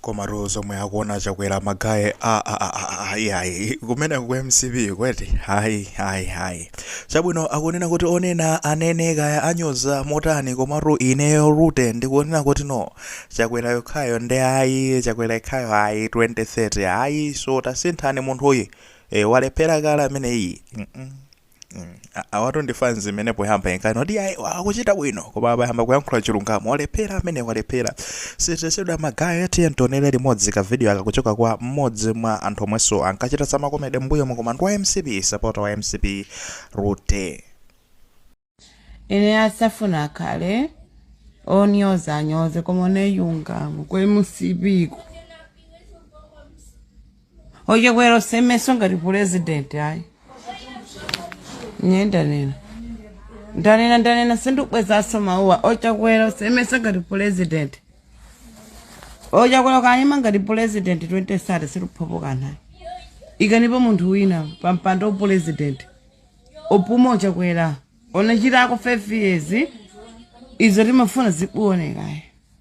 komatu zomwe akuona a chakwera magaye ayi kumeneku mcp kweti hayi hayi hayi chabwino akunena kuti onena anene kaya anyoza motani komatu ineyo lute ndikunena kuti no chakwera yekhayo nde ayi chakwera yekhayo ayi 2030 ayi so tasinthani munthuyi e, walephera kale ameneyi mm -mm. Mm. A- awatu ndi fans imene poyamba inkani kuti ayi akuchita bwino koma apa ayamba kuyankhula chilungamo walephera amene walephera siteseda magaya eti tionere limodzi ka video aka kuchoka kwa mmodzi mwa anthu omwenso ankachita zamakomede mbuyomu koma ndi wa mcp sapota wa mcp lute ine asafuna akhale onyoza anyoze koma oneyungamo ku mcp ko o chakwera osaimenso ngati pulezidenti ayi ine ndanena ndanena ndanena sindikubwezaso mawuwa ochakwera usemeso ngati pulezidenti o chakwera okayima ngati pulezidenti 2030 sitiphulapo kanthu ikanipo munthu wina pa mpando wa pulezidenti opume o chakwera onachitako 5 years izo timafuna sizikuonekayi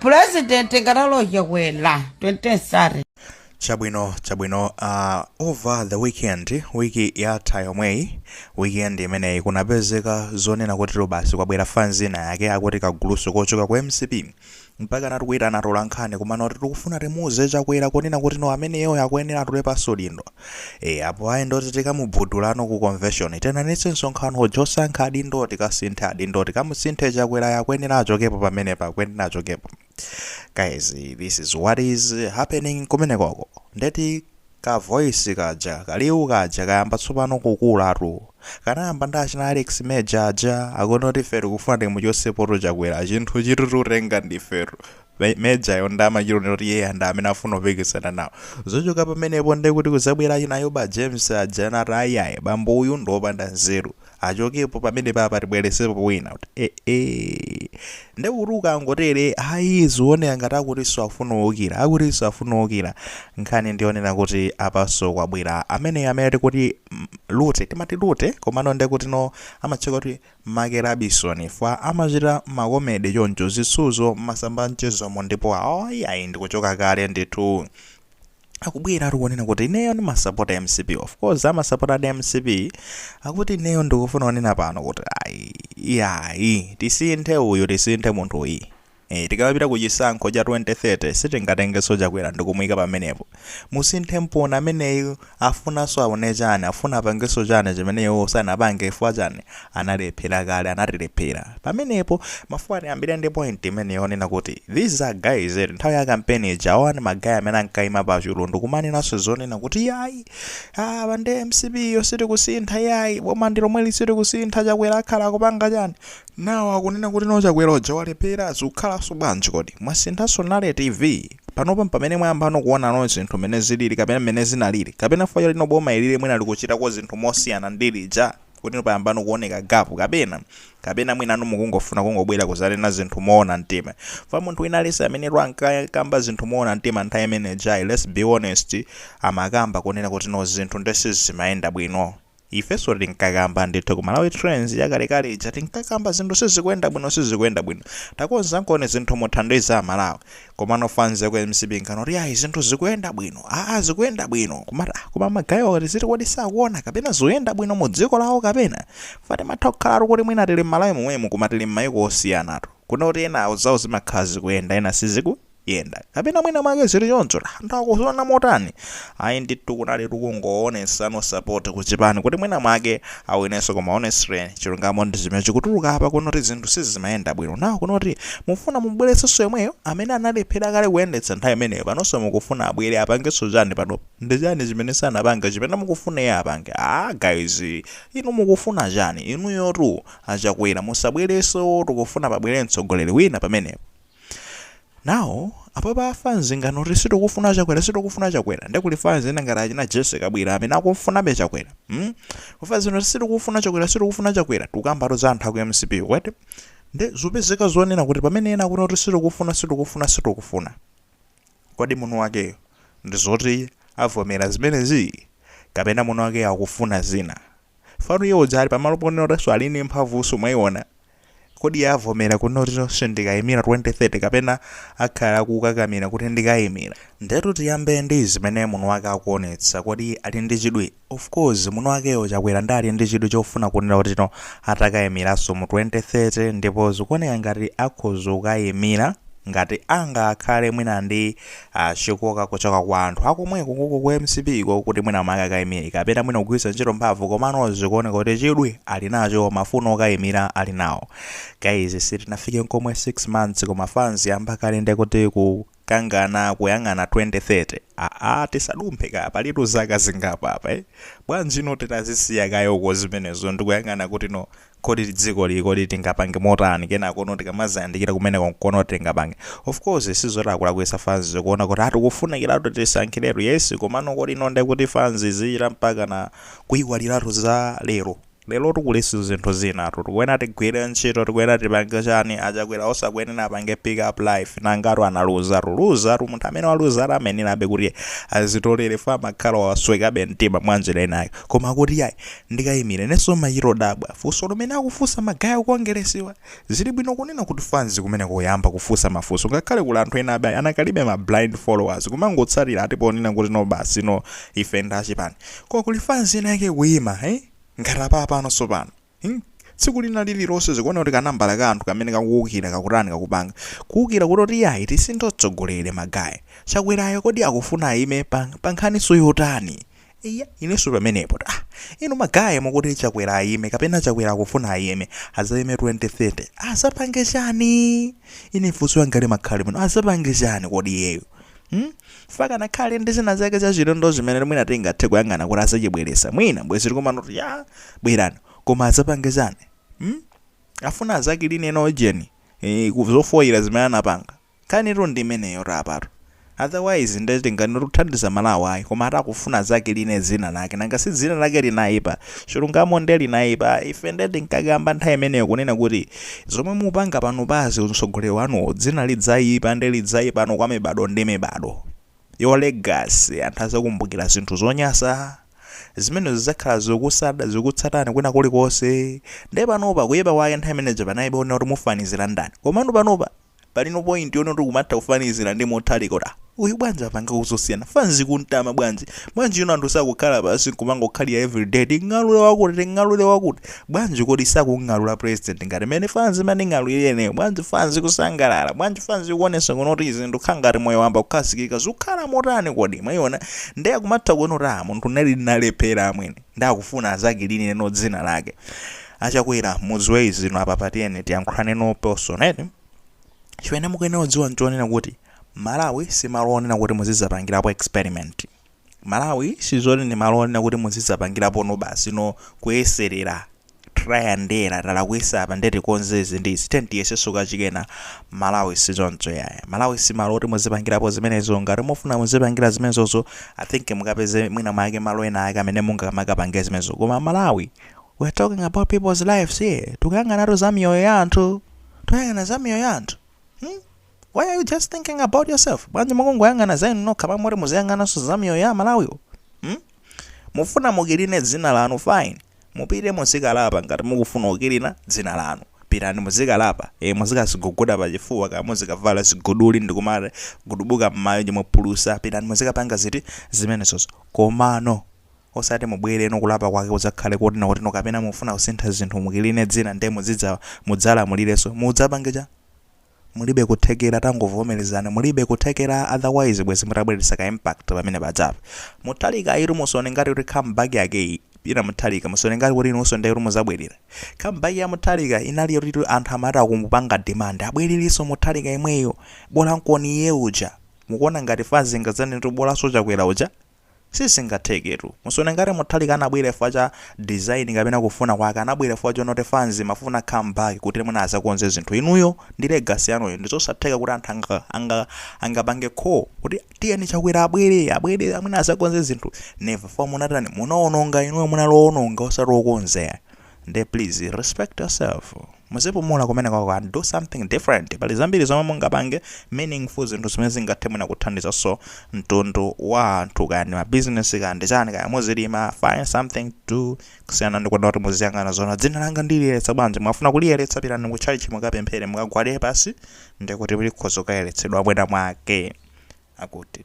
pulezidenti ngati a chakwera 2030 chabwino chabwino uh, over the weekend wiki yatha yomweyi weekend imeneyi kunapezeka zonena kuti no basi kwabwera fans ina yake akuti kaguluso kochoka ku mcp Mpakanatu kuitana atolankhani kumanoti tikufuna timuuze Chakwera kunena kuti no ameneyoyo akuyenera atule pansi udindo. E, apo ayi ndoti tikamugudula no ku konveshoni. Tiitanitse msonkhano uja osankha adindowo tikasinthe adindowo tikamusinthe Chakwerayo akuyenera achokepo pamenepa akuyenera achokepo. Guys, this is what is happening kumenekoko. Ndeti Ka voice kaja, kaliwu kaja kayamba tsopano kukulatu. Kanayamba ndi achina Alex Major aja, akunena kuti ifetu tikufuna timuchotsepotu Chakwera, chinthuchi tituchitenga ndifetu. Major'yo nde amachita kuonekera kuti iyeyo ndi amene akufuna kupikisana nawo. Zochoka pamenepo nde kuti kudzabwera achina Ayuba James aja, ena ati ayi ayi, bambo uyu ndi wopanda nzeru. achokepo pamenepapa tibweresepo wina kuti eeh ndekuti ukangotere ayi zioneka ngati akuti nzofuna uwukira akuti nzofuna uwukira nkhani ndi yonena kuti apanso kwabwera amene amene tikuti mm, lute timati lute komano ndekuti no amatchuka kuti make labisoni ifa amachita makomede choncho zisuzo m'masamba a mchezomo ndipo ayi ndi otchuka kale ndithu akubwera akuti kunena kuti ineyo ndimasapota mcp of course amasapotadi mcp akuti ineyo ndikufuna kunena pano kuti ayi iyayi tisinthe uyu tisinthe munthuyi Eh, tikamapita ku chisankho cha 2030 sitingatengenso chakwera ndikumuyika pamenepo musinthe mponi ameneyu afunanso aone chani afuna apangenso chani chimene iwo sanapange ifwa chani analephera kale anatilephera pamenepo mafuna tiyambire ndi point imene yonena kuti these are guys eti nthawi ya campaign ija awa ndi magaya amene ankaima pa chulu ndikumanenanso zonena kuti yayi apa ndi mcp yo sitikusintha yayi boma ndi lomweli sitikusintha chakwera akhala akupanga chani nawo akunena kuti no chakwera uja walephera zikukhalanso bwanji kodi mwasinthanso nale tv panopa pamene mwayambano kuona no zinthu mmene zilili kapena mmene zinalili kapena fa panopo boma ilili mwina likuchitako zinthu mosiyana ndi lija Kuti inu payambano kuoneka gap kapena? Kapena mwinanu mukungofuna kungobwera kuzanena zinthu moona mtima? Chifukwa munthu wina aliyense amene ankakamba zinthu moona mtima nthawi imene ijayi let's be honest amakamba kunena kuti no zinthu nde sizimayenda bwino. Ifenso tinkakamba ndithu ku Malawi Trends yakalekale ija tinkakamba zinthu sizikuyenda bwino sizikuyenda bwino. Takonzankoni zinthu muthandize a Malawi. Komano fans yaku mcp kunenano kuti ayi zinthu zikuyenda bwino aa zikuyenda bwino kumati ah koma magayi wa akuti ziti kodi sakuona kapena zoyenda bwino mu dziko lawo kapena fa timatha kukhalatu kuti mwina tili m'malawi momwemu koma tili m'mayiko osiyanatu kuno kuti enawo zawo zimakhala zikuyenda ena siziku yenda kapena mwina mwake zili choncho ta anthu akuziona motani ayi ndithu kunalitu kungowonesano support ku chipani kuti mwina mwake awo inenso koma honestly chilungamo ndi chimene chikutuluka apa kunoti zinthu sizimayenda bwino nawo kunoti mufuna mubweretsenso yemweyo amene analephera kale kuyendetsa nthawi imeneyo panonso mukufuna abwere apangenso chani panopo ndi chani chimene sanapange chimene mukufuna iye apange ah guys inu mukufuna chani inuyotu achakwera musabwerenso tikufuna pabwere mtsogoleri wina pamenepo Now, apapa fans ikuti sitikufuna chakwera sitikufuna chakwera nde kuli fans ena ngati achina jesse kabwila amene akufunabe chakwera hmm? fans ino sitikufuna chakwera sitikufuna chakwera tukambatu za anthu aku mcp kwete nde zopezeka zonena kuti pamene ena akuti kuti sitikufuna sitikufuna sitikufuna kodi mwini wakeyo ndi zoti avomera zimenezi kapena mwini wakeyo akufuna zina fano iye uja ali pamalo ponena kuti so ali ndi mphamvunso mwayiona Kodi iye avomera kunena kuti ine sindikayimira 2030 kapena akhala akukakamira kuti ndikayimira? Ndetu tiyambe ndi zimene mwiniwake akuonetsa. Kodi ali ndi chidwi? Of course mwiniwakeyo, Chakwera, nde ali ndi chidwi chofuna kunena kuti no atakayimiranso mu 2030 ndipo zikuoneka ngati akhoza kukayimira ngati angakhale mwina ndi Chikoka kuchoka kwa anthu akomweko koko ku mcp ko kuti mwina make akaimire kapena mwina kugwiritsa ntchito mphamvu komano zikuoneka kuti chidwi ali nacho mafuno okaimira ali nawo guys sitinafike nkomwe 6 months koma fans yamba kale ndekuti kukangana kuyang'ana 2030 aa tisadumphe kaye palitu zaka zingapo apa eh bwanjino titazisiya kaye uko zimenezo ndikuyang'ana kuti no kodi dzikoli kodi tingapange motani kenakono tikamazayandikira kumeneko nkuona kuti tingapange of course sizoti akulakwisa fans kuona kuti atikufunikiratu tisankhiretu yes komano kodi ino ndekuti fans zichita mpakana kuiwaliratu za lero lerotu kuliso zinthu zinatu tikuenera tigwire ntchito tikuenera tipange chani achakwera osakuenera apange pick up life nanga si analuzatu luzatu munthu amene waluzatu amaenerabe kuti azitolere for amakhala waswekabe mtima mwanjira inayo koma kuti yayi ndikayimile ineso mayi ndiro dabwa funso limene akufunsa ma guy akukongelesiwa, zilibwino kunena kuti fanz kumeneko kuyamba kufunsa mafunso ngakhale kuli anthu enabe anakalibe ma blind followers kumangotsatila ati ponena kuti no basi no ife ndi achipani koma kuli fanz ina yake ikuyima hmm ngat apapano sopano hmm tsiku lina lililose zikuoneka kuti kanambala ka anthu kamene kakuwukila kakutani kakupanga kuwukila kuti iyayi tisinthe utsogoleli ma guy chakwerayo kodi akufuna ayime pa pa nkhaniso yotani Eya ineso pamenepo tu inu ma guy mukuti chakwera ayime kapena chakwera akufuna ayime azayime 2030 azapange chani ine funso yanga limakhala limeno azapange chani kodi iyeyo hmm? for akanakhala ndi zina zake zachilendo zimene mwina tingathe kuyang'ana kuti azachibweresa mwina bwezi tikumati ya bwerani koma azapange chani hmm? afuna azakiline ena ujeni e, zofoyira zimene anapanga Nkhanitu ndi imeneyotu apatu. Otherwise nde tinganene kuti kuthandiza Malawi ayi koma ati akufuna azakiline dzina lake nanga si dzina lake linaipa? Chilungamo nde linaipa ife nde tinkakamba nthawi imeneyo kunena kuti zomwe mupanga panopazi utsogoleri wanuwu dzina lidzaipa nde lidzaipa kwa mibadwo ndi mibadwo. Your legacy anthu adzakumbukira zinthu zonyasa zimenezo zidzakhala zikukusata zikutsatani kwina kulikonse nde panopa kuipa kwake nthawi imene ija panaipa onena kuti mufanizira ndani komano panopa Palino point yonoti kumatha kufanizila ndi Mutharika kuti ah uyu bwanji apangako zosiyana fanzi kumtama bwanji uyuno anthu sakukhala pansi nkumangokhalira everyday ting'alure wakuti ting'alure wakuti bwanji kodi sakung'alura president ngati mene fanzi imaning'alurira ineyo bwanji fanzi kusangalala bwanji fanzi kuonesa kunoti zinthu zikukhala ngati moyo wamba kukhazikika zikukhala motani kodi mwaiona nde akumatha kuona kuti ah munthune ndinalephera amwene ndakufuna azakiline no dzina lake Achakwera muziwe izi inu apapa tiyeni tiyankhulane in person eti chimene mukuyenera kudziwa nchonena kuti Malawi si malo onena kuti muzidzapangirapo experiment Malawi sizoti ndi malo onena kuti muzidzapangirapo no basi no kuyeserera try and error talakwisa apa nde tikonze izi ndi izi tiyeni tiyesenso kachikenanso Malawi sizoncho yaya Malawi si malo oti muzipangirapo zimenezo ngati mufuna muzipangira zimenezozo I think mukapeze mwina mwake malo ena ake amene mungakamakapange zimenezo koma Malawi We're talking about people's lives here. Tikuyang'anatu za miyoyo ya anthu. Tikuyang'ana za miyoyo ya anthu. Hmm? Why are you just thinking about yourself? Bwanji mukungoyang'ana za inu nokha pamwe muziyang'ananso za miyoyo ya aMalawiwo. Hmm? Mufuna mukiline dzina lanu fine. Mupite muzikalapa ngati mukufuna kukilina dzina lanu. Pitani muzikalapa. E muzikaziguguda pa chifuwa kaya muzikavala ziguduli ndi kumagudubuka m'mayo m'phulusa. Pitani muzikapanga ziti zimenezozo. Komano Osati mubwere kuno kulapa kwake kudzakhale koti no koti no kapena mufuna kusintha zinthu mukiline dzina nde mudzidza mudzalamulirenso. Mudzapange chani? Mulibe kuthekera tangovomerezani mulibe kuthekera otherwise bwezi mutabweretsa ka impact pamene paja. Mutharika uyutu musaone ngati kuti come back yake iyi, Peter Mutharika, musaone ngati kuti inunso nde kuti mudzabwerera. Come back ya Mutharika inali yotitu anthu amati akumupanga demand abwererenso Mutharika yemweyo, bola nkoni iye uja. Mukuona ngati fanzi ingadzanene kuti bolanso Chakwera uja? sizingatheketu musaone ngati Mutharika anabwera chifukwa cha design kapena kufuna kwake anabwera chifukwa chonoti fans imafuna come back kuti mwina azakonze zinthu inuyo ndi legacy yanuyo ndizosatheka kuti anthu anga anga angapange call kuti tiyeni Chakwera abwere abwere mwina azakonze zinthu never chifukwa munatani munaononga inuyo munali oononga osati okonza ayi nde please respect yourself muzipumula kumenekoko and do something different pali zambiri zomwe mungapange meaningful zinthu zimene zingathe mwina kuthandizanso mtundu wa anthu kaya ndi mabizinesi kaya ndi chani kaya muzilima find something to kusiyana ndi kuti muziyang'ana zona dzina langa ndiliyeretsa bwanji mwafuna kuliyeretsa pitani ku tchalitchi mukapemphere mukagwade pansi ndikuti likhoza kukayeretsedwa mwina mwake akuti